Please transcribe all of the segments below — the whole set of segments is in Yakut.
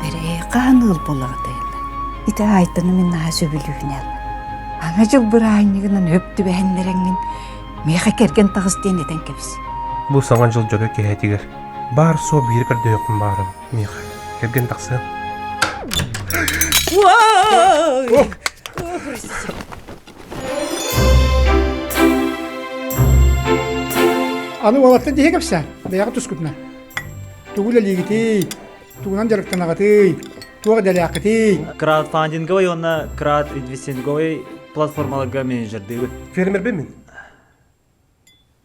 Эрээ, хаһан ыал булаатыйла? Ити Айтаны мин наһаа сөбүлүүнэл. Ана дьыл быраанньыгынан өп түбэһиннэрэҥҥин миэхэ кэргэн таҕыс диэн этэн кэбис. Бу саҥа дьыл дьоро киһэтигэр баар суо биир көрдөйөхпүн баарым, миэхэ. Кэргэн тахсыам. Ой! Аны уолаттан тиһэ кэпсээ, бэйэҕэ тускутуна. Тугу үлэлиигитий? Тугунан дьарыктанаҕытый? Туох идэлээххитий? Краудфандинговый уонна крауд-инвестинговый платформаларга менеджердыыбын. Фермербин мин.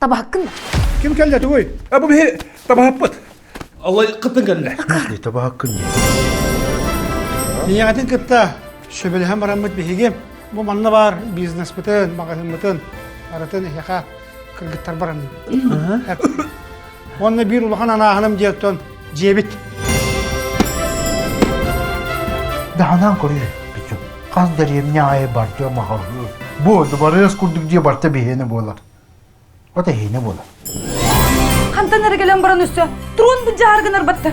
Табаһыккын да? Ким кэллэ тугуй? А бу биһи табаһаппыт. Аллай кыттын кэллэ. Дии табаһаккын дии. Ийэҕитин кытта сөбүлэһэн бараммыт биһиги бу манна баар бизнеспытын, маҕаһыыммытын арытын эһиэхэ кыргыттар баранын. Уонна биир улахан анааһыным диэттэн дьиэбит. Даһанан көрүө бичу. Хас дэриэмне айы бардыа махалыы. Бу дубарыас курдук дьиэ барта биһиэне буолар. Ота иһиэне буолар. Хантан эрэ кэлэн баран өссө трон быдьаар гынар батта.